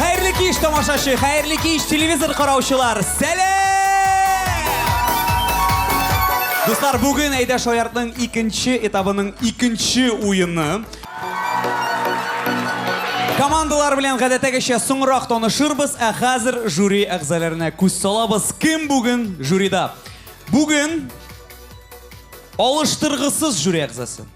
Хәерле кич, тамашачы, хәерле кич, телевизор караучылар. Сәлам! Дуслар, бүген Әйдә Шаяртның икенче этабының икенче уены. Командалар белән гадәттәгечә соңрак танышырбыз, ә хәзер жюри әгъзаларына күз салабыз. Кем бүген жюрида? Бүген алыштыргысыз жюри әгъзасы.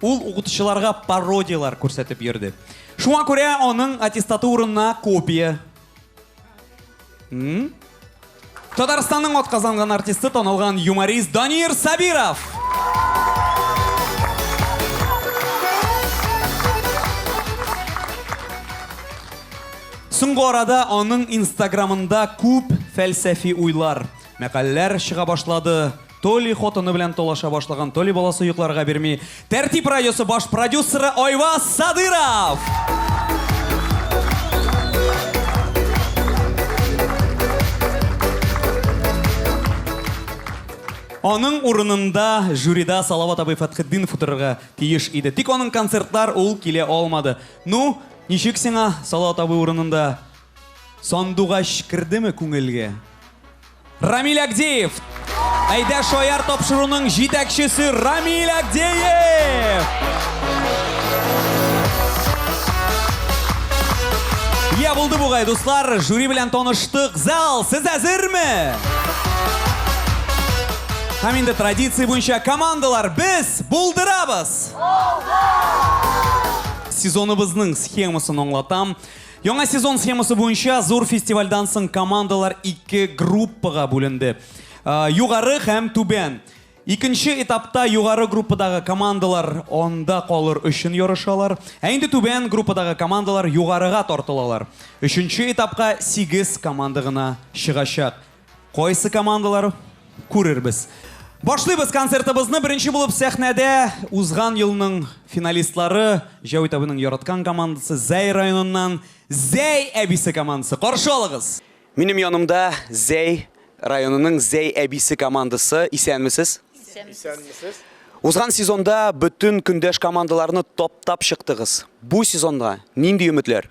Ул укытучыларга пародияләр күрсәтеп йөрде. Шуңа күрә аның аттестаты урынына копия. М? Татарстанның атказанган артисты танылган юморист Данир Сабиров. Соңгы арада аның инстаграмында күп фәлсәфи уйлар, мәкаләләр чыга башлады. То ли хатыны белән талаша башлаган, то ли баласы йокларга бирми. Тәртип радиосы баш продюсеры Айваз Садыров! Аның урынында жюрида Салават абый Фәтхетдинов утырырга тиеш иде. Тик аның концертлар ул килә алмады. Ну, ничек сиңа Салават абый урынында Сандугач кердеме күңелгә? Рамиль Агдеев! Әйдә шаяр тапшыруның җитәкчесе Рамиль Агдеев! Я булды бугай, дуслар, жюри белән таныштык. Зал, сез әзерме? Һәм инде традиция буенча командалар без булдырабыз! Сезоныбызның схемасын аңлатам. Яңа сезон схемасы буенча зур фестивальдан соң командалар ике группага бүленде. Э, югары һәм түбән. Икенче этапта югары группадагы командалар анда калыр өчен ярышалар. Ә инде түбән группадагы командалар югарыга тартылалар. Өченче этапка 8 команда гына чыгачак. Кайсы командалар? Күрербез. Башлыйбыз концертыбызны. Беренче булып сәхнәдә узган елның финалистлары, Җәүит абыйның яраткан командасы Зәй районыннан Зәй әбисе командасы. Каршы алыгыз! Минем янымда Зәй районының Зәй әбисе командасы. Исәнмесез? Исәнмесез. Узган сезонда бөтен көндәш командаларны таптап чыктыгыз. Бу сезонга нинди өметләр?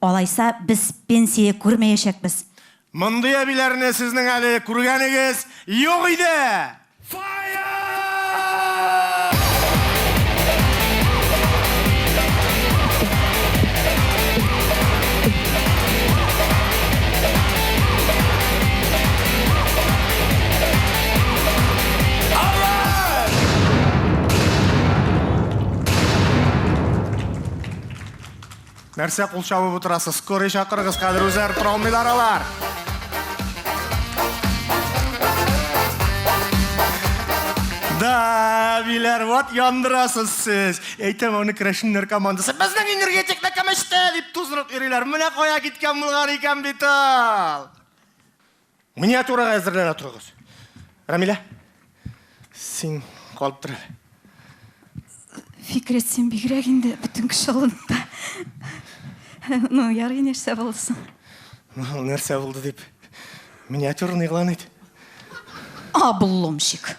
Алайса, без пенсия күрмәячәкбез. Мондый әбиләрне сезнең әле күргәнегез юк иде! Нәрсә кул чабып утырасыз? Скорый чакырыгыз, хәзер үзләре тора алмыйлар алар. Да, биләр, вот яндырасыз сез. Әйтәм, аны керәшеннәр командасы. Безнең энергетик мәкәмәчтә дип туздырып йөриләр. Менә кая киткән булган икән бит ул. Миниатюрага әзерләнә торыгыз. Рамилә, син калып тор. Фикрәт, син бигрәк инде бөтен кеше алдында. Ну, ярый нәрсә булсын. Ну, нәрсә булды дип. Миниатюраны игълан ит. Обломщик.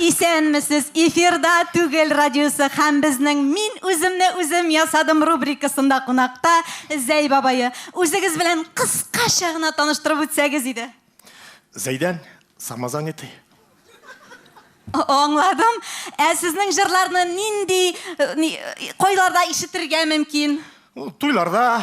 Исәнмесез! Эфирда Түгел радиосы һәм безнең Мин үземне үзем ясадым рубрикасында кунакта Зәй бабае. Үзегез белән кыскача гына таныштырып үтсәгез иде. Зәйдән самозанятый. Аңладым. Ә сезнең җырларны нинди, кайларда ишетергә мөмкин? Туйларда,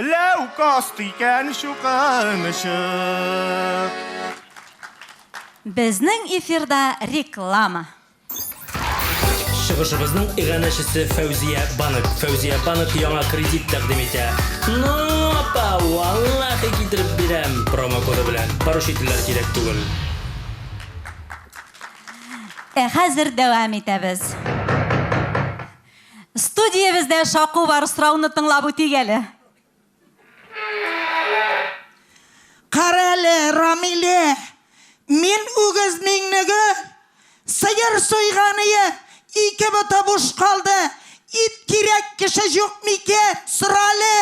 Ләүкаст икән чукынычы. Безнең эфирда реклама. Чыгышыбызның иганәчесе Фәүзия банк. Фәүзия банк яңа кредит тәкъдим итә. Ну, апа, валлахи китереп бирәм! Промокоды белән. Поручительләр кирәк түгел. Ә хәзер дәвам итәбез. Студиябездә шаку бар, сорауны тыңлап үтик әле. Карале, Рамиле, мин үгез миңнеге, сыер суйганые, ике боты буш калды, ит кирәк кеше җук микән, сорале!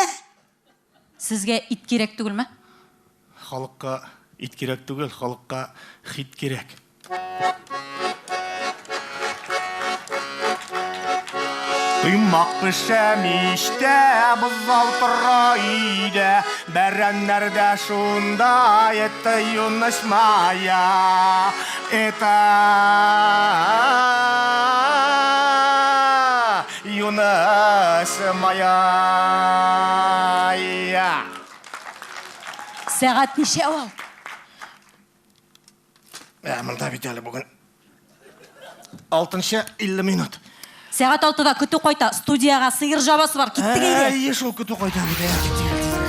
Сезгә ит кирәк түгелме? Халыкка ит кирәк түгел, халыкка хит кирәк. Коймак пешә мичтә, бозау тора өйдә, бәрәннәр дә шунда, это юность моя, это... Юныс мая. Сәгать ничә ул? Ә, монда бит әле бүген. Алтынчы 50 минут. Сәгать алтыда көтү кайта. Студиягә сыер жабасы бар. Киттек әйдә. Әйе, шул көтү кайта бит.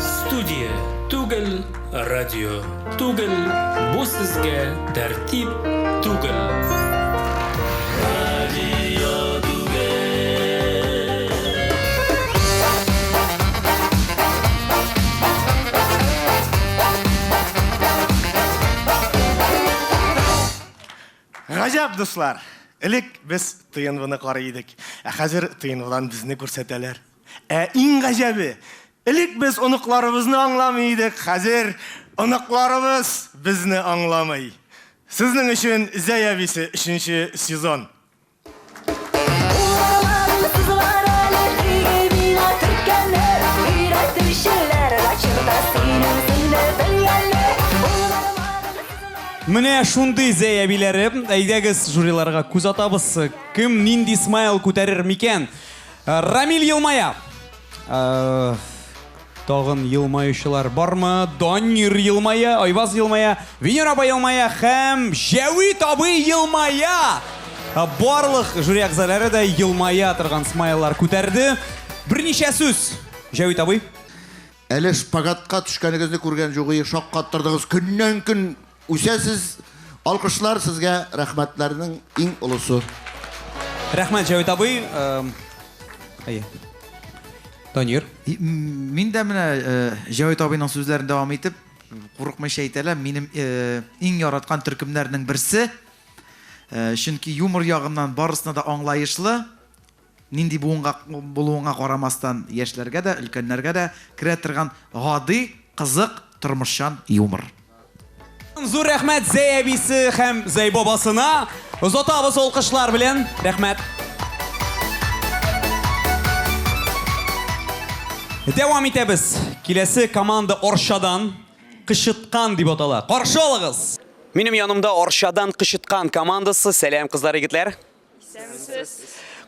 Студия түгел, Радио түгел, бу сезгә тәртип түгел. Гаҗәп, дуслар! Элек без ТНВны карый идек, ә хәзер ТНВдан безне күрсәтәләр. Ә иң гаҗәбе, элек без оныкларыбызны аңламый идек, хәзер оныкларыбыз безне аңламый. Сезнең өчен Зәй әбисе өченче сезон. Менә шундый Зәй әбиләре. Әйдәгез, жюриларга күз атабыз. Кем нинди смайл күтәрер микән? Рамил елмая. Тагын елмаючылар бармы? Данир елмая, Айваз елмая, Венера апа елмая һәм Җәвит абый елмая. Барлык жюри әгъзалары да елмая торган смайлар күтәрде. Берничә сүз. Җәвит абый. Әле шпагатка төшкәнегезне күргән җугые шаккаттырдыгыз, көннән-көн үсәсез, алкышлар сезгә, рәхмәтләрнең иң олысы. Рәхмәт, Җәвит абый. Әйе. Данир. Мин дә менә Җәвит абыйның сүзләрен дәвам итеп, курыкмыйча әйтәләр, минем иң яраткан төркемнәрнең берсе, чөнки юмор ягыннан барысына да аңлаешлы, Нинди буынга булуыңа карамастан, яшьләргә дә, өлкәннәргә дә керә торган гади, кызык, тормышчан юмор. Зур рәхмәт Зәй әбисе һәм Зәй бабасына! Озатабыз алкышлар белән! Рәхмәт! Дәвам итәбез! Киләсе команда Арчадан, Кычыткан дип атала. Каршы алыгыз! Минем янымда Арчадан Кычыткан командасы. Сәлам, кызлар, егетләр!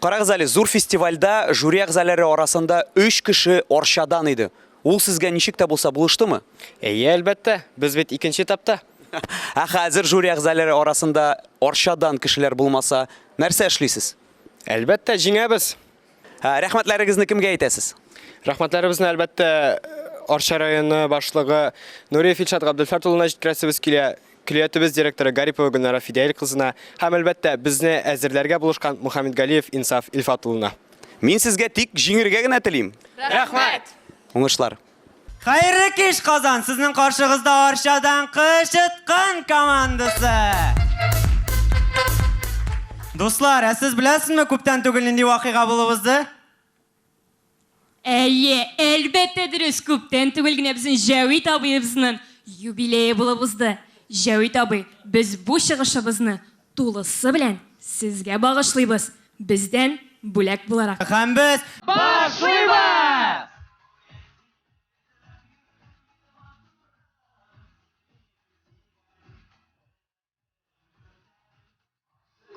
Карагыз әле, зур фестивальдә жюри әгъзалары арасында өч кеше Арчадан иде. Ул сезгә ничек тә булса булыштымы? Әйе, әлбәттә. Без бит икенче этапта. Ә хәзер жюри әгъзалары арасында Арчадан кешеләр булмаса, нәрсә эшлисез? Әлбәттә, җиңәбез. Ә рәхмәтләрегезне кемгә әйтәсез? Рәхмәтләребезне, әлбәттә, Арча районы башлыгы Нуриев Илшат Габделфәрт улына җиткерәсебез килә, көллиятебез директоры Гарипова Гөлнара Фидәил кызына һәм, әлбәттә, безне әзерләргә булышкан Мухаммедгалиев Инсаф Илфат улына. Мин сезгә тик җиңергә генә телим! Рәхмәт! Уңышлар! Хәерле кич, Казан! Сезнең каршыгызда Арчадан Кычыткан командасы! Дуслар, ә сез беләсезме, күптән түгел нинди вакыйга булып узды? Әйе, әлбәттә дөрес, күптән түгел генә безнең Җәвит абыебызның юбилее булып узды. Җәвит абый, без бу чыгышыбызны тулысы белән сезгә багышлыйбыз, бездән бүләк буларак. Һәм без башлыйбыз!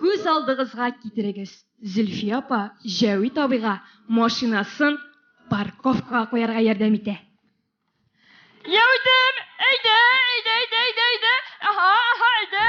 Күз алдыгызга китерегез, Зөлфия апа Җәвит абыйга машинасын парковкага куярга ярдәм итә. Җәвитем, әйдә, әйдә, әйдә, әйдә, әйдә, аһа, аһа, әйдә.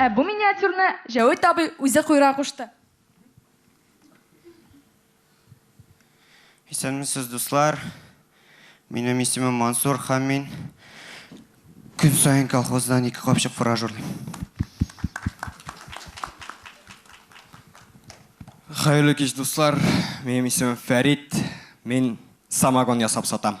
Ә бу миниатюрны Җәвит абый үзе куйра кушты. Исәнмесез, дуслар. Минем исемем Мансур һәм мин көн саен колхоздан ике капчык фураж урлыйм. Хәерле кич, дуслар. Минем исемем Фәрит. Мин самогон ясап сатам.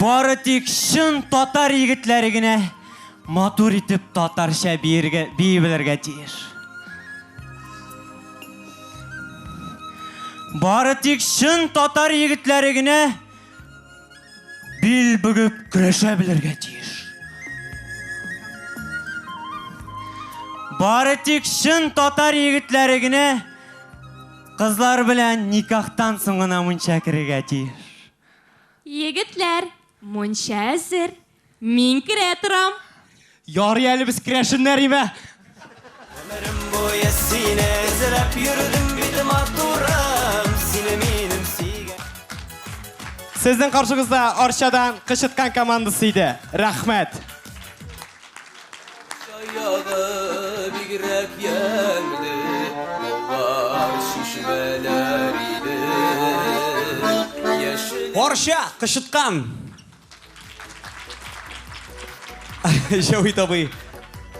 Бары тик чын татар егетләре генә матур итеп татарча биергә бии белергә тиеш. Бары тик чын татар егетләре генә Бил бөгеп көрәшә белергә тиеш. Бары тик шын татар егетләре генә кызлар белән никахтан соң гына мунча керергә тиеш. Егетләр, мунча әзер. Мин керә торам. Ярый әле без керәшеннәр име? Гомерем буе сине эзләп йөрдем бит матурым, сине минем сөйгән. Сезнең каршыгызда Арчадан кычыткан командасы иде. Рәхмәт. Чаягы бигрәк ямьле, бар чишмәләр иде. Яшел Арча, кычыткан! Җәвит абый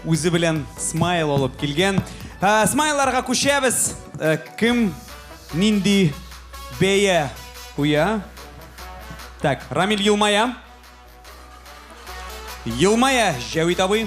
үзе белән смайл алып килгән. Ә, смайларга күчәбез. Ә, кем нинди бәя куя? Так, Рамиль елмая. Елмая, Җәвит абый.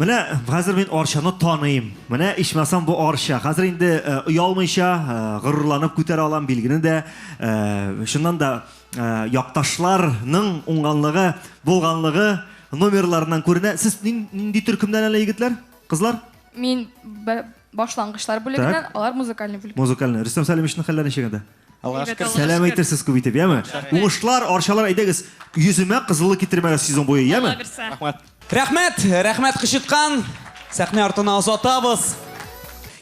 Менә хәзер мин Арчаны таныйм. Менә ичмасам бу Арча. Хәзер инде оялмыйча, горурланып күтәрә алам билгене дә. Шуннан да якташларның уңганлыгы, булганлыгы номерларыннан күренә. Сез нинди төркемнән әле егетләр, кызлар? Мин Башлангычлар бүлегеннән, Так. алар музыкальный бүлек. Музыкальный. Рөстәм Сәлимовичның хәлләре ничек анда? Аллага Әйбәт, шөкер. Аллага Сәлам шөкер. әйтерсез күп итеп, яме? Рәхмәт. Уңышлар, Арчалар, әйдәгез, йөземә кызыллык китермәгез сезон буе, яме? Алла бирса. Рәхмәт. Рәхмәт, рәхмәт кычыткан. Сәхнә артына озатабыз.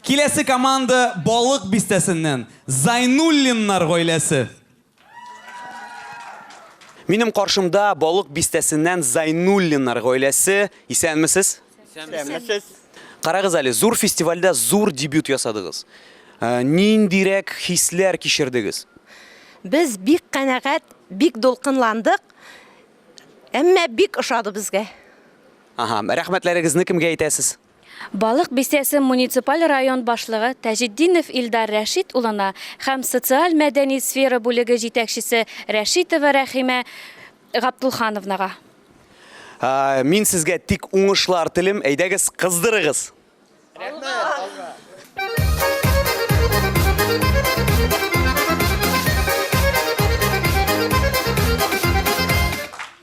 Киләсе команда Балык Бистәсеннән, Зайнуллиннар гаиләсе. Минем каршымда Балык бистәсеннән Зайнуллиннар гаиләсе. Исәнмесез? Исәнмесез. Карагыз әле, зур фестивальдә зур дебют ясадыгыз. Э, ниндирәк хисләр кичердегез? Без бик канәгать, бик дулкынландык. Әмма бик ошады безгә. Ага, рәхмәтләрегезне кемгә әйтәсез? Балык Бистәсе муниципаль район башлыгы Таҗетдинов Илдар Рәшит улына һәм социаль-мәдәни сфера бүлеге җитәкчесе Рәшитова Рәхимә Гаптулхановнага. Мин сезгә тик уңышлар телим, әйдәгез, кыздырыгыз!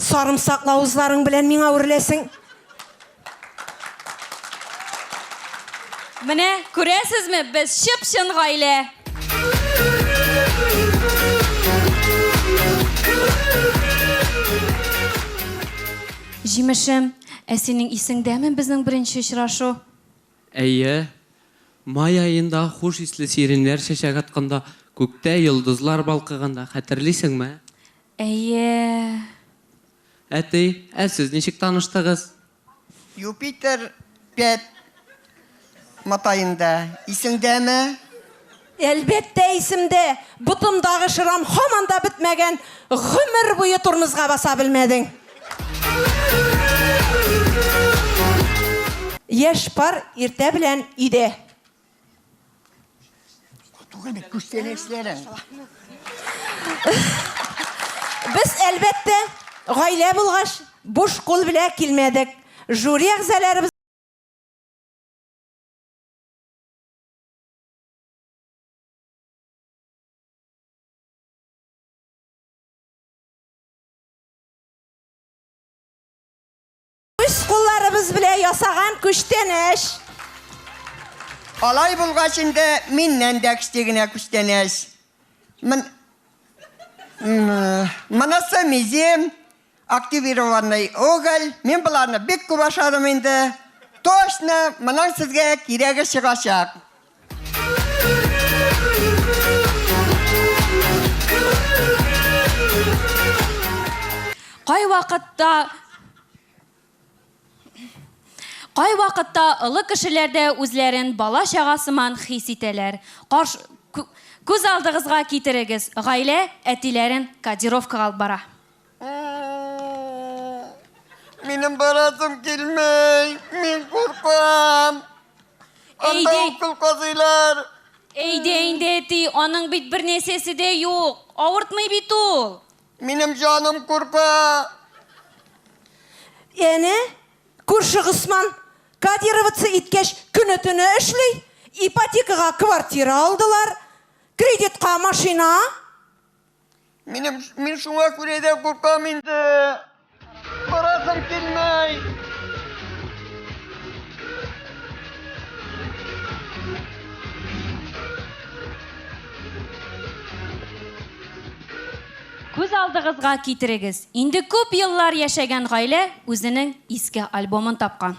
Сарымсаклы авызларың белән миңа үрләсең. Менә, күрәсезме, без чып-чын гаилә. Җимешем, ә синең исеңдәме безнең беренче очрашу? Әйе. Май аенда хуш исле сиреньләр чәчәк атканда, күктә йолдызлар балкыганда, хәтерлисеңме? Әйе. Әти, ә сез ничек таныштыгыз? Юпитер пять матаенда. Исеңдәме? Әлбәттә исемдә! Ботымдагы шрам һаман да бетмәгән, гомер буе тормозга баса белмәдең. Яшь пар иртә белән өйдә. Туганы күстәнәчләре. Без әлбәттә гаилә булгач буш кул белән килмәдек. Жюри әгъзаларыбыз Үз кулларыбыз белән ясаган күчтәнәч. Алай булгач инде миннән дә кече генә күчтәнәч. Мын... Монысы мизем, активированный уголь. Мин боларны бик күп ашадым инде. Точно, моның сезгә кирәге чыгачак. Кайвакытта Кайвакытта олы кешеләр дә үзләрен бала чага сыман хис итәләр. Карш... Күз алдыгызга китерегез, гаилә әтиләрен кодировкага алып бара. Минем барасым килмей, мин куркам. Анда Әйдә. укол казыйлар. Әйдә инде, әти, аның бит бер нәрсәсе дә юк. Авыртмый бит ул. Минем җаным курка. Әнә, күрше Госман кодироваться иткәч, көне-төне эшли. Ипотекага квартира алдылар, кредитка машина. Минем, мин шуңа күрә дә куркам инде. Барасым килмәй. Күз алдыгызга китерегез, инде күп еллар яшәгән гаилә үзенең иске альбомын тапкан.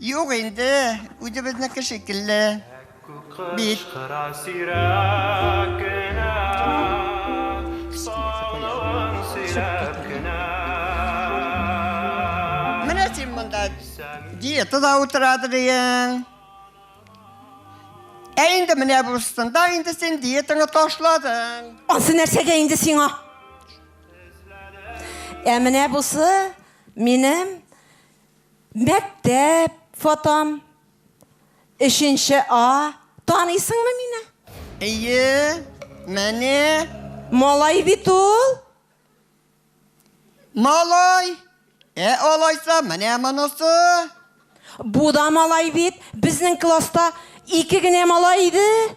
Юк инде, үзебезнеке шикелле бит. Менә син монда диетада утырадыр ең. Ә инде менә бурсында инде син диетаңа ташладың. Ансы нәрсәгә инде сиңа? Ә менә бусы минем Мәктәп фотом, өченче А, таныйсыңмы мине? Әйе, менә. Малай бит ул. Малай, ә алайса менә монысы. Бу да малай бит, безнең класста ике генә малай иде.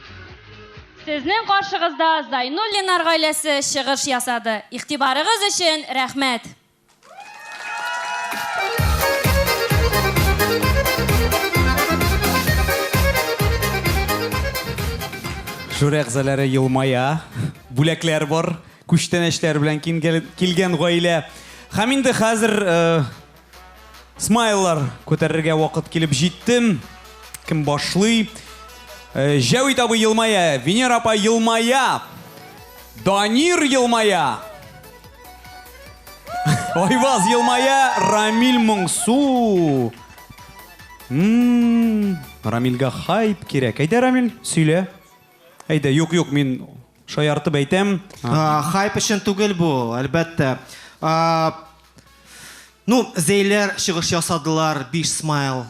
Сезнең каршыгызда Зайнуллиннар гаиләсе чыгыш ясады. Игътибарыгыз өчен рәхмәт! Жюри әгъзаләре елмая. Бүләкләр бар. Күчтәнәчләр белән килгән гаилә. Һәм инде хәзер Смайллар күтәрергә вакыт килеп җитте. Кем башлый? Э, Җәвит абый елмая, Венера апа елмая, Данир елмая, Айваз елмая, Рамиль моңсу. Ммм, Рамильгә хайп кирәк. Әйдә, Рамиль, сөйлә. Әйдә, юк, юк, мин шаяртып әйтәм. А, Хайп өчен түгел бу, әлбәттә. А, Ну, зәйләр чыгыш ясадылар, биш смайл.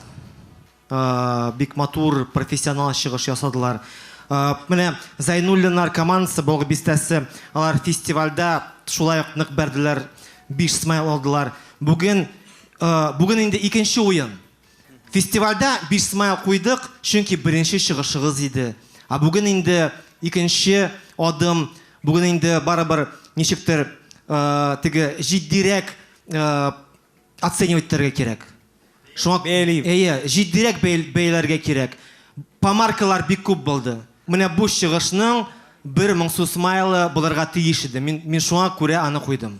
Э, бик матур, профессионал чыгыш ясадылар. Э, менә Зайнуллинар командасы, Бог бистәсе, алар фестивальдә шулай ук нык бәрделәр, биш смайл алдылар. Бүген, э, бүген инде икенче уен. Фестивальдә биш смайл куйдык, чөнки беренче чыгышыгыз иде. Ә бүген инде икенче адым, бүген инде барыбер ничектер теге җитдирәк оценивать итәргә кирәк. Шуңа бәяли. Әйе, җитдирәк бәяләргә кирәк. Помаркалар бик күп булды. Менә бу чыгышның бер моңсу смайлы булырга тиеш иде. Мин шуңа күрә аны куйдым.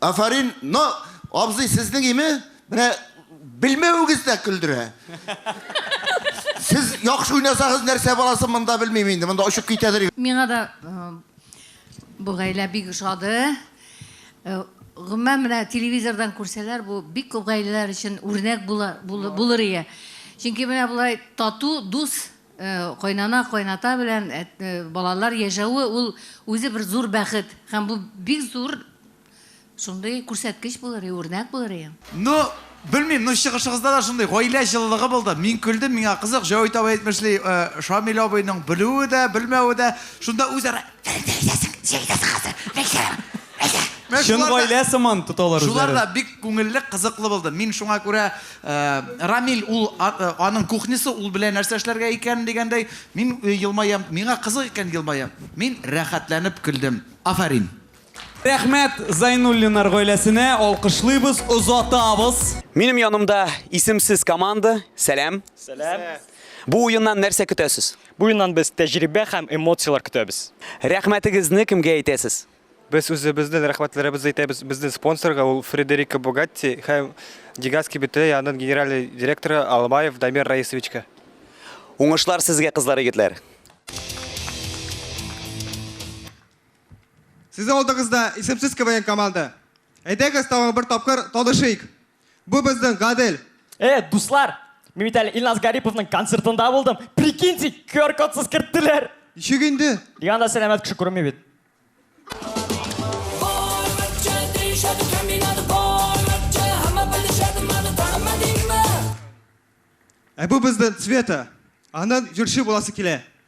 Афарин, но абзый сезнең име? Менә белмәвегез дә көлдерә. Сез яхшы уйнасагыз нәрсә баласы монда белмим инде, монда очып китәдер. Миңа да бу гаилә бик ошады. Гомумән менә телевизордан күрсәләр, бу бик күп гаиләләр өчен үрнәк булыр ие. Чөнки менә болай тату, дус Кайнана, кайната белән балалар яшәве ул үзе бер зур бәхет һәм бу бик зур шундый күрсәткеч булыр и үрнәк булыр и. Ну, белмим, ну чыгышыгызда да шундый гаилә җылылыгы булды. Мин көлдем, миңа кызык, Җәвит абый әйтмешли, Шамил абыйның белүе дә, белмәве дә, шунда үзара. Чын гаилә сыман тоталар үзләрен. Шулар да бик күңелле, кызыклы булды. Мин шуңа күрә Рамил ул аның кухнясы, ул белә нәрсә эшләргә икәнен дигәндәй, мин елмаям. Миңа кызык икән, елмаям. Мин рәхәтләнеп көлдем. Афәрин! Рәхмәт Зайнуллиннар гаиләсенә, алкышлыйбыз, озатабыз! Минем янымда исемсез команда. Сәлам! Сәлам! Бу уеннан нәрсә көтәсез? Бу юннан без тәҗрибә һәм эмоцияләр көтәбез. Рәхмәтегезне кемгә әйтәсез? Без үзебезнен рәхмәтләребезне әйтәбез безнен спонсорга, ул Фредерико Бугатти һәм Дегас кибете янын генеральный директоры Албаев Дамир Раисовичка. Уңышлар сезгә кызлар егетләр. Сез алдыгызда исемсез КВН команда. Әйдәгез тагын бер тапкыр танышыйк. Бу безнең Гадел. Э, дуслар, мин бит әле Илназ Гариповның концертында булдым. Прикиньте, QR-кодсыз керттеләр. Ничек инде? Ник анда сәламәт кеше күренми бит? Ә бу безнең Цвета. Аннан җырчы буласы килә.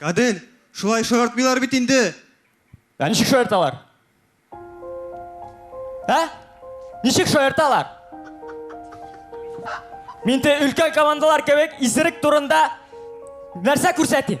Гадел, шулай шаяртмыйлар бит инде. Ә ничек шаярталар? Ә? Ничек шаярталар? Мин те өлкән командалар кебек исерек турында нәрсә күрсәтим?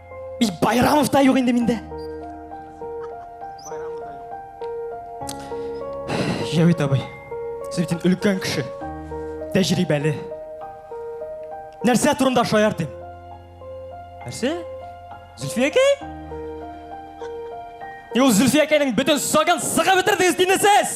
И Байрамов та юк инде миндә. Җәвит абый, сез бит өлкән кеше. Тәҗрибәле. Нәрсә турында шаяртыйм? Нәрсә? Зөлфиякәй? Юл Зөлфиякәйнең бөтен сагын сыгып бетердегез, динесез!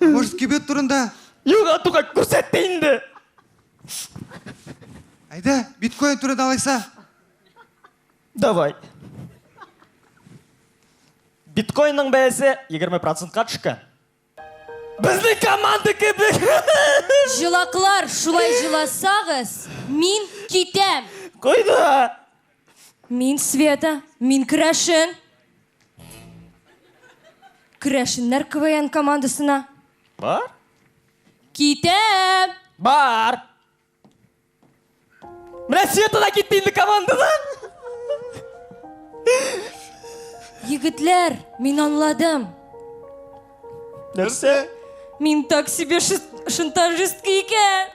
Может, кибет турында? Юк, Атуга, күрсәт тә инде. Әйдә, биткоин турында алайса. Давай. Биткоинның бәясе 20 процентка төшкән. Безнең команда кебек. Җылаклар, шулай җыласагыз, мин китәм. Кайда? Мин Света, мин керәшен. Керәшеннәр КВН командасына. Бар? Китәм! Бар! Менә Света да китте инде командадан! Егетләр, мин анладым. Нәрсә? Мин так себе шантажистка икән.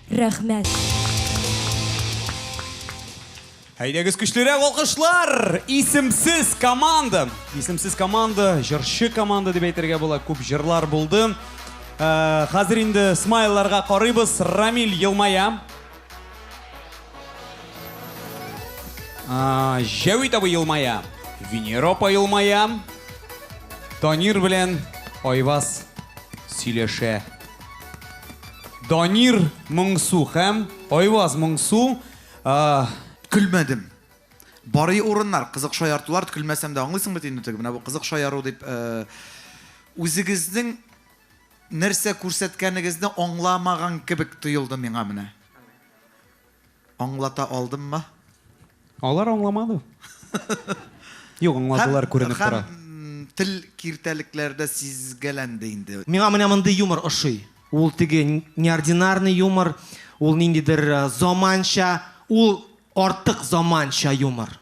Рәхмәт. Әйдәгез көчлерәк алкышлар! Исемсез команда! Исемсез команда, җырчы команда дип әйтергә була. Күп җырлар булды. Э, хәзер инде смайларга карыйбыз. Рамиль елмая. А, Җәвит абый елмая. Венера апа елмая. Танир белән Айваз сөйләшә. Данир Моңсу һәм Айваз Моңсу а. Көлмәдем. Барый урыннар, кызык шаяртулар ткөлмәсәм дә аңлыйсың бит инде теге менә бу кызык шаяру дип э, үзегезнең нәрсә күрсәткәнегезне аңламаган кебек тоелды миңа менә. Аңлата алдыммы? Алар аңламады. Юк, аңладылар, күренеп тора. Һәм, һәм тел киртәлекләрдә сизгәләнде инде. Миңа менә мондый юмор ошый. Ул теге неординарный юмор, ул ниндидер заманча, ул артык заманча юмор.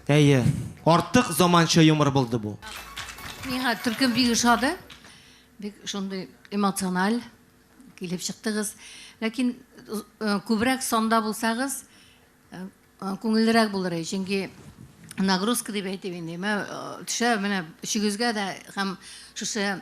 Әйе, артык заманча юмор булды бу. Миңа төркем бик ошады. Бик шундый эмоциональ килеп чыктыгыз. Ләкин э, күбрәк санда булсагыз, э, э, күңеллерәк булыр иде. Чөнки нагрузка дип әйтеп инде. Мә төшә менә өчегезгә дә һәм шушы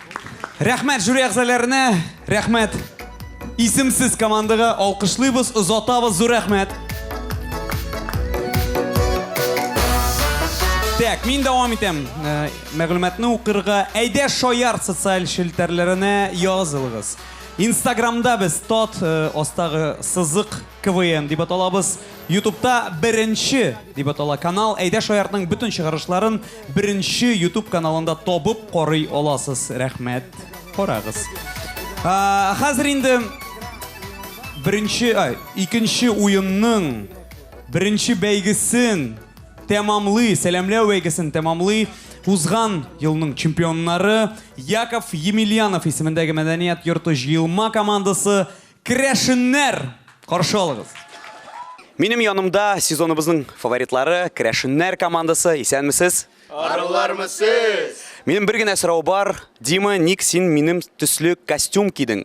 Рәхмәт жюри әгъзаләренә, рәхмәт исемсез командага, алкышлыйбыз, озатабыз, зур рәхмәт. Так, мин дәвам итәм. Э, мәгълүматны укырга әйдә шаяр социаль челтәрләренә язылыгыз. Инстаграмда без тот э, астагы сызык КВН дип аталабыз. Ютубта беренче дип атала канал. Әйдә шаяртның бөтен чыгарышларын Беренче ютуб каналында табып карый аласыз. Рәхмәт. Карагыз. А, хәзер инде беренче, ай, икенче уенның беренче бәйгесен тәмамлый, сәламләү бәйгесен тәмамлый узган елның чемпионнары Яков Емельянов исемендәге мәдәният йорты җыелма командасы Керәшеннәр! Каршы алыгыз! Минем янымда сезоныбызның фаворитлары, керәшеннәр командасы. Исәнмесез? Арулармы сез? Минем бер генә сорау бар. Дима, ник син минем төсле костюм кидең?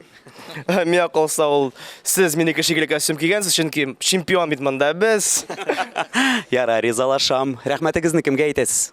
Миңа калса ул сез минеке шикелле костюм кигәнсез, чөнки чемпион бит монда без. Ярар, ризалашам. Рәхмәтегезне кемгә әйтәсез?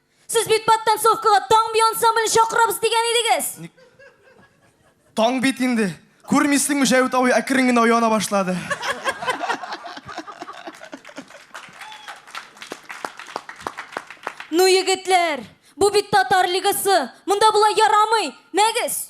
Сез бит подтанцовкага Таң би ансамблен чакырабыз дигән идегез. Таң бит инде. Күрмисеңме, Җәвит абый әкрен генә ояна башлады. Ну, егетләр, бу бит татар лигасы. Монда болай ярамый. Мәгез!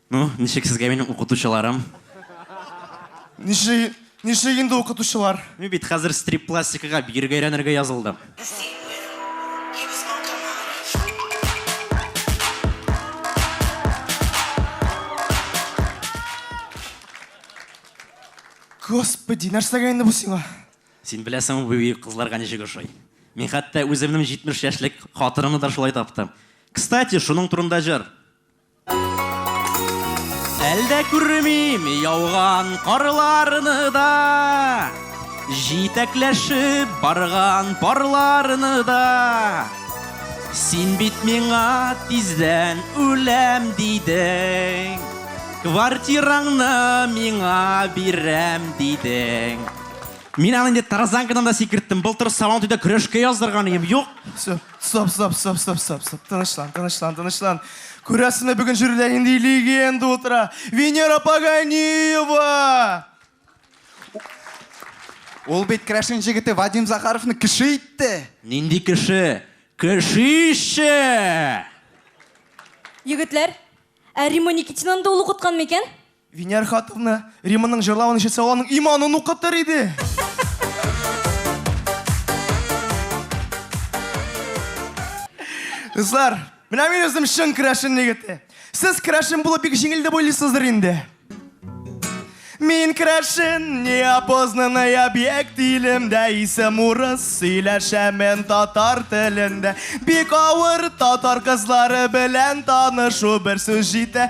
Ну, ничек сезгә минем укытучыларым? Ничек, ничек инде укытучылар? Мин бит хәзер стрип-пластикага биергә өйрәнергә язылдым. Господи, нәрсәгә инде бу сиңа? Син беләсеңме, бу бөек кызларга ничек ошый? Мин хәтта үземнең 70 яшьлек хатынымны да шулай таптым. Кстати, шуның турында җыр. Әлдә күрмим яуган карларны да, Җитәкләшеп барган парларны да. Син бит миңа тиздән үләм дидең, Квартираңны миңа бирәм дидең. Мин аны инде тарзанкадан да сикерттем. Былтыр Сабантуйда көрәшкә яздырган идем. Юк. Стоп, стоп, стоп, стоп, стоп, стоп. Тынычлан, тынычлан, тынычлан. Күрәсенә бүген җүрилә инде легенда утыра. Венера Паганиева! Ул бит крәшен җегете Вадим Захаровны кеше итте. Нинди кеше? Кешише! Егетләр, ә Римма Никитинаны да ул укыткан микән? Винер хатынны Риманың җырлавын ишетсә, аның иманын укытыр иде. Кызлар, менә мин үзем чын керәшен егете. Сез керәшен булып бик җиңел дип уйлыйсыздыр инде. Мин керәшен, не опознанный объект илемдә, исем урыс, сөйләшәмен татар телендә. Бик авыр татар кызлары белән танышу бер сүз җитә.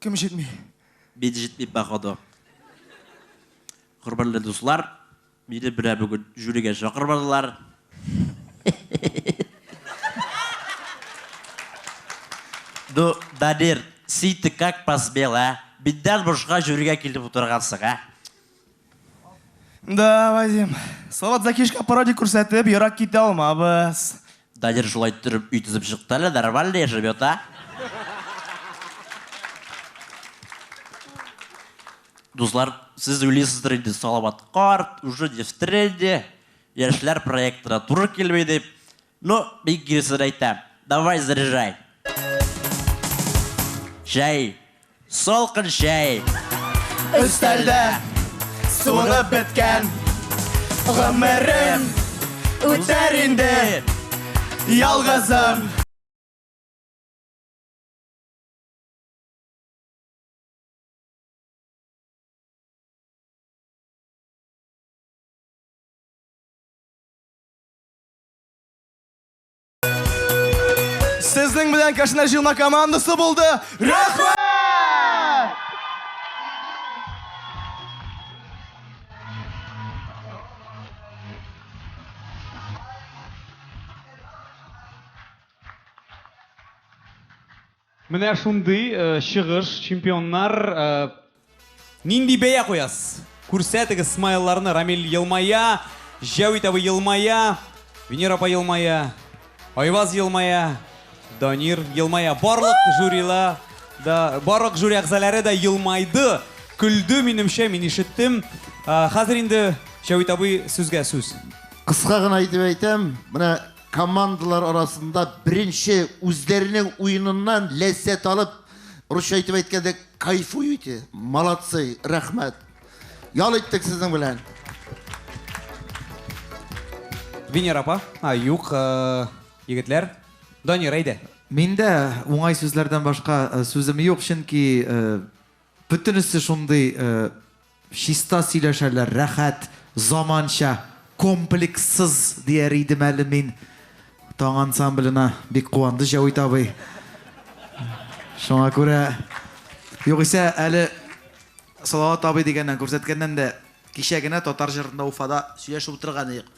Кем җитми? Мин җитмим, походу. Хөрмәтле дуслар, мине менә бүген жюригә чакырмадылар. Ну, Данир, син ты как посмел, ә? Миннән бушка жюригә килеп утыргансың, ә? Да, Вадим. Салат закишка пародия күрсәтеп, ерак китә алмабыз. Дадир шулай төреп өй төзеп чыкты әле, нормально яшәп ята. Дуслар, сез уйлыйсыздыр инде, Салават карт, уже не в тренде, яшьләр проектына туры килми дип. Ну, бик дөрес сүз әйтә. Давай заряжай. Чәй. Салкын чәй. Өстәлдә суынып беткән гомерем үтәр инде ялгызым. Сезнең белән Кашина җыелма командасы булды. Рәхмәт! Менә шундый чыгыш, чемпионнар! Нинди бәя куясыз? Күрсәтегез смайлларны, Рамил елмая, Җәвит абый елмая, Венера апа елмая, Айваз елмая, Данир елмая. Барлык жюрила да, барлык жюри әгъзаләре дә елмайды, көлде, минемчә, мин ишеттем. Хәзер инде Җәвит абый, сүзгә сүз. Кыска гына итеп әйтәм, менә Командалар арасында беренче үзләренең уеныннан ләззәт алып, русча итеп әйткәндә, кайфуете. Молодцы, рәхмәт. Ял иттек сезнең белән. Венера апа, а, юк, э, егетләр. Данир, әйдә. Миндә уңай сүзләрдән башка э, сүзем юк, чөнки э, бөтенесе шундый э, Чиста сөйләшәләр, рәхәт, заманча, комплекссыз дияр идем әле мин. Таң ансамбленә бик куанды Җәвит абый. Шуңа күрә, югыйсә әле Салават абый дигәннән, күрсәткәннән дә кичә генә татар җырында Уфада сөйләшеп утырган идек.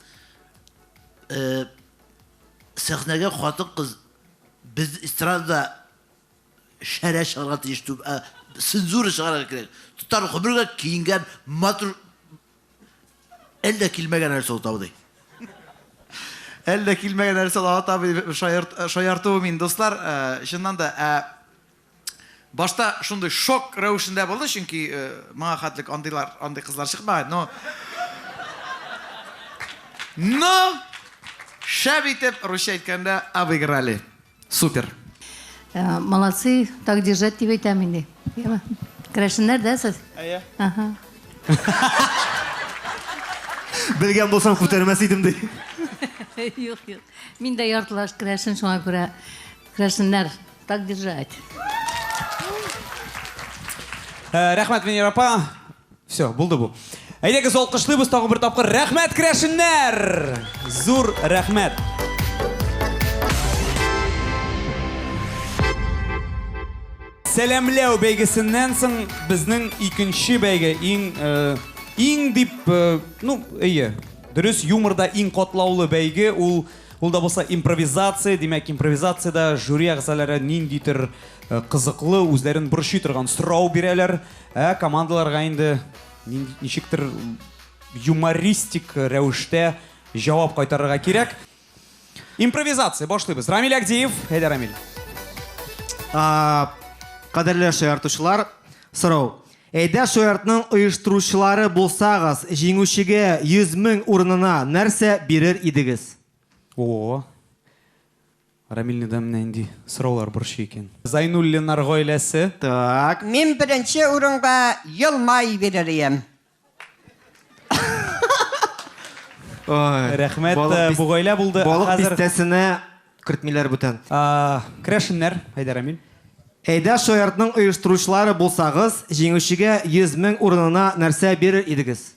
Сәхнәгә хатын-кыз без эстрадада Шәрә чыгарга тиеш түгел, ә цензура чыгарырга кирәк. Татар гомергә киенгән матур әллә килмәгән нәрсә ул табыды. Әллә килмәгән нәрсә ул табыды шаярт, шаяртуым инде, дуслар, чыннан да, ә башта шундый шок рәвешендә булды, чөнки моңа хәтлек андыйлар, андый кызлар чыкмаган, но Но шәп итеп, русча әйткәндә, обыграли. Супер. Молодцы, так держать дип әйтәм инде. Керәшеннәр дә сез? Әйе. Ага. Белгән булсам күтәрмәс идем ди. Юк, юк. Мин дә яртылаш керәшен шуңа күрә. Керәшеннәр, так держать. Рәхмәт, Венера апа. Все, булды бу. Әйдәгез алкышлыйбыз тагы бер тапкыр. Рәхмәт керәшеннәр! Зур рәхмәт! Сәламләү бәйгесеннән соң безнең икенче бәйге иң э, иң дип, э, ну, әйе, дөрес юморда иң катлаулы бәйге ул ул да булса импровизация, димәк импровизациядә жюри әгъзалары ниндидер э, кызыклы, үзләрен борчый торган сорау бирәләр. Ә командаларга инде ничектер юмористик рәвештә җавап кайтарырга кирәк. Импровизация башлыйбыз. Рамиль Агдиев, әйдә Рамиль. Кадерле шаяртучылар, сорау. Әйдә шаяртның оештыручылары булсагыз, җиңүчегә 100 мең урынына нәрсә бирер идегез? О. Рамилне да менә нинди сораулар борчый икән. Зайнуллиннар гаиләсе. Так, мин беренче урынга Елмай бирер ием. Рәхмәт, бу гаилә булды. Балык бистәсенә кертмиләр бүтән. Керәшеннәр, әйдә, Рамил. Әйдә шаяртның оештыручылары булсагыз, җиңүчегә 100 мең урынына нәрсә бирер идегез?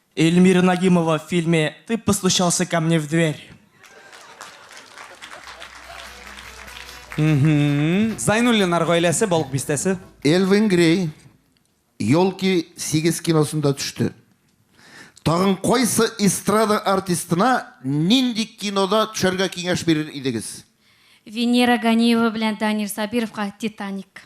Эльмира Нагимова в фильме Ты постучался ко мне в дверь. Зайнуллиннар гаиләсе, Балык бистәсе. Элвин Грей Елки 8 киносында төште. Тагын кайсы эстрада артистына нинди кинода төшәргә киңәш бирер идегез? Венера Ганиева белән Данир Сабировка Титаник.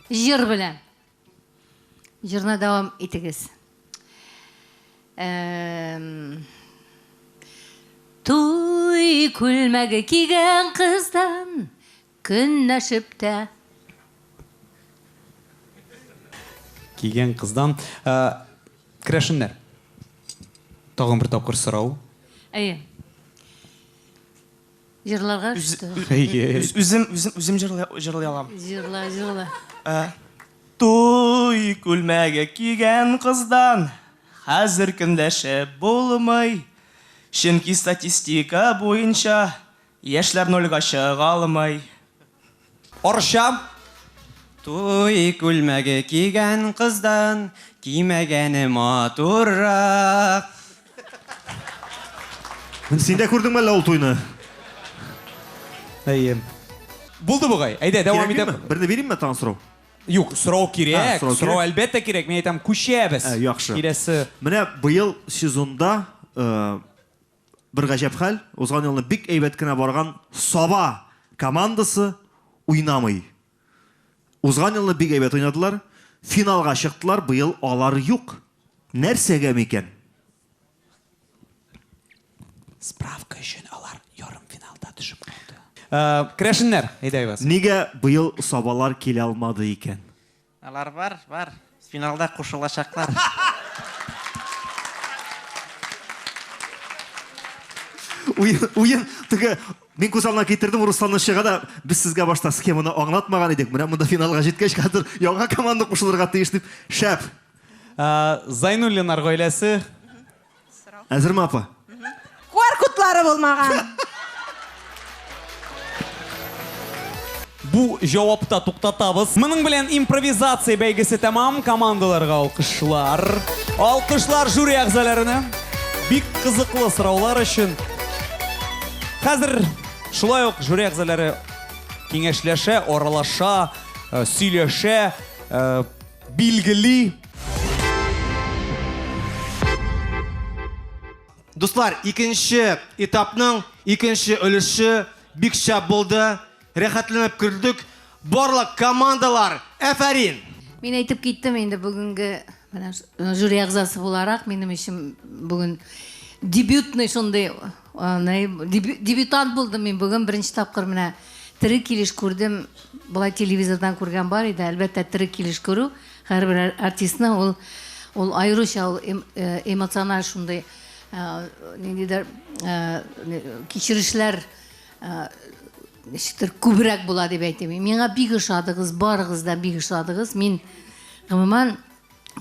Җыр белән. Җырны дәвам итегез. Туй күлмәге кигән кыздан көнләшеп тә кигән кыздан керәшеннәр тагын бер тапкыр сорау әйе Җырларга что? Үзем үзем үзем җырлый җырлый алам. Җырла, җырла. Э, Туй күлмәге кигән кыздан хәзер көнләшеп булмый. Чөнки статистика буенча яшьләр нольгә чыга алмый. Арча. Туй күлмәге кигән кыздан кимәгәне матуррак. Син дә күрдеңме әллә ул туйны? Әйе. Булды бугай. Әйдә, дәвам итәм. Кирәкме? Берне бирейме тагын сорау? Юк, сорау кирәк. А, сорау Сорау кирәк. әлбәттә кирәк. Мин әйтәм, күчәбез. Ә, яхшы. Киләсе. Менә быел сезонда э, Бер гаҗәп хәл, узган елны бик әйбәт кенә барган Саба командасы уйнамый. Узган елны бик әйбәт уйнадылар, финалга чыктылар, быел алар юк. Нәрсәгә микән? Справка өчен алар ярымфиналда төшеп калды. Керәшеннәр, әйдәгез. Нигә быел Сабалар килә алмады икән? Алар бар, бар. Финалда кушылачаклар. Уен, уен, теге Мин күз алдына китердем Русланны чыга да, без сезгә башта схеманы аңлатмаган идек. Менә монда финалга җиткәч хәзер яңа команда кушылырга тиеш дип, шәп. Зайнуллиннар гаиләсе Сорау. Әзерме, апа? Куар котлары булмаган. Бу җавапта туктатабыз. Моның белән импровизация бәйгесе тәмам. Командаларга алкышлар. Алкышлар жюри әгъзаларына. Бик кызыклы сораулар өчен. Хәзер шулай ук жюри әгъзалары киңәшләшә, аралаша, э, сөйләшә, э, билгели. Дуслар, икенче этапның икенче өлеше бик шәп булды. Рәхәтләнеп күрдек. Барлык командалар, әфәрин! Мин әйтеп киттем инде бүгенге менә жюри әгъзасы буларак, минем өчен бүген дебютный шундый Дебютант булдым мин бүген беренче тапкыр менә тере килеш күрдем. Болай телевизордан күргән бар иде, әлбәттә тере килеш күрү һәрбер артистны ул ул аеруча ул эмоциональ шундый ниндидер кичерешләр ничектер күбрәк була дип әйтим. Миңа бик ошадыгыз, барыгыз да бик ошадыгыз. Мин гомумән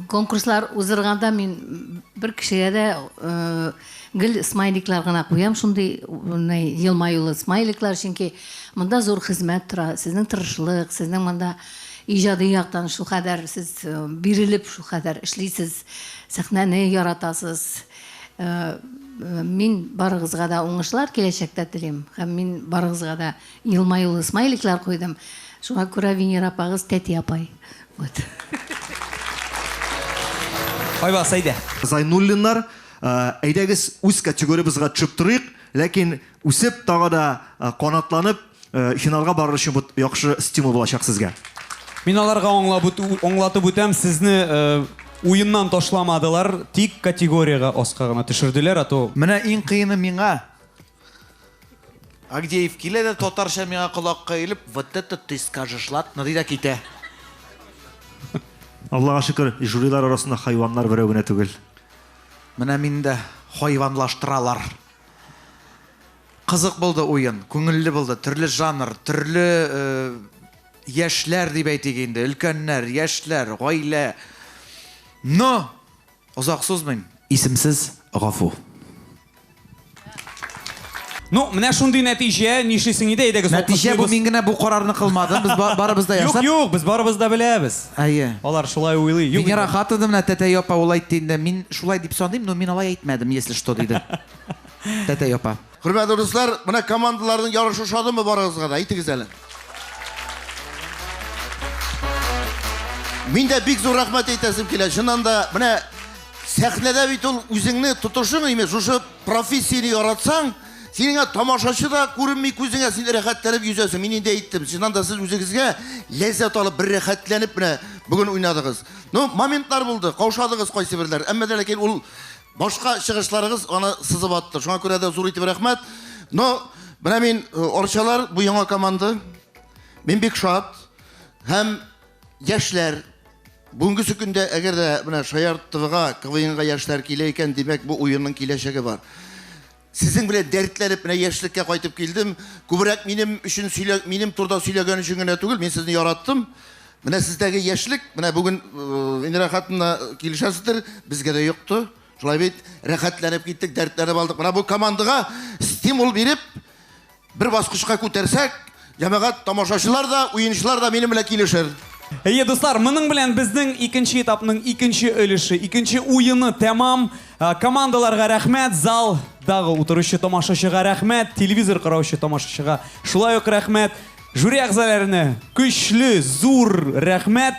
конкурслар узырганда мин бер кешегә дә э, гел смайликлар гына куям, шундый елмаюлы смайликлар, чөнки монда зур хезмәт тора, сезнең тырышлык, сезнең монда иҗади яктан шу кадәр сез э, бирелеп шу кадәр эшлисез, сәхнәне яратасыз. Э, мин барыгызга да уңышлар киләчәктә телим һәм мин барыгызга да Елмаюлы смайликлар куйдым. Шуңа күрә Венера апагыз тәти апай. Вот. Айваз, әйдә. Зайнуллиннар, әйдәгез үз категорибызга төшеп торыйк, ләкин үсеп тагы да канатланып финалга барыр өчен бу яхшы стимул булачак сезгә. Мин аларга аңлатып үтәм, сезне уеннан ташламадылар, тик категориягә аска гына төшерделәр, а то. Менә иң кыены миңа, Агдеев килә дә татарча миңа колакка иелеп, вот это ты скажешь, ладно, ди дә китә. Аллага шөкер, жюрилар арасында хайваннар берәү генә түгел. Менә мин дә хайванлаштыралар. Кызык булды уен, күңелле булды, төрле жанр, төрле э, яшьләр дип әйтик инде, өлкәннәр, яшьләр, гаилә. Но Озак сузмыйм, исемсез гафу. Ну, менә шундый нәтиҗә, нишлисең иде, әйдәгез Нәтиҗә бу мин генә бу карарны кылмадым, без барыбыз да ясап. Юк, юк, без барыбыз да беләбез. Әйе. Алар шулай уйлый. Юк. Мин рахат идем, менә тәтәй апа ул әйтте инде. Мин шулай дип саныйм, но мин алай әйтмәдем, если что, диде. Тәтәй апа. Хөрмәтле дуслар, менә командаларның ярышы ошадымы барыгызга да? Әйтегез әле. Мин дә бик зур рәхмәт әйтәсем килә. Чыннан да, менә сәхнәдә бит ул үзеңне тотышың име, шушы профессияне яратсаң, синеңә тамашачы да күренми күзеңә, син рәхәтләнеп йөзәсең. Мин инде әйттем, чыннан да сез үзегезгә ләззәт алып, бер рәхәтләнеп менә бүген уйнадыгыз. Ну, моментлар булды, каушадыгыз кайсы берләр. Әмма дә ләкин ул Башка чыгышларыгыз аны сызып атты. Шуңа күрә дә зур итеп рәхмәт. Но менә мин э, Орчалар бу яңа команда. Мин бик шат. Һәм яшьләр бүгенге көндә әгәр дә менә Шаяр ТВга КВНга яшьләр килә икән, димәк бу уенның киләчәге бар. Сезнең белән дәртләнеп менә яшьлеккә кайтып килдем. Күбрәк минем өчен сөйлә, минем турда сөйләгән өчен генә түгел, мин сезне яраттым. Менә сездәге яшьлек, менә бүген Венера хатынна килешәсездер, безгә дә йокты. Шулай бит, рәхәтләнеп киттек, дәртләнеп алдык. Менә бу командага стимул биреп, Бер баскычка күтәрсәк, җәмәгать, тамашачылар да, уенчылар да минем белән килешер. Әйе, дуслар, моның белән безнең икенче этапның икенче өлеше, икенче уены тәмам. Ә, Командаларга рәхмәт, залдагы утыручы тамашачыга рәхмәт, телевизор караучы тамашачыга шулай ук рәхмәт. Жюри әгъзаларына көчле, зур рәхмәт.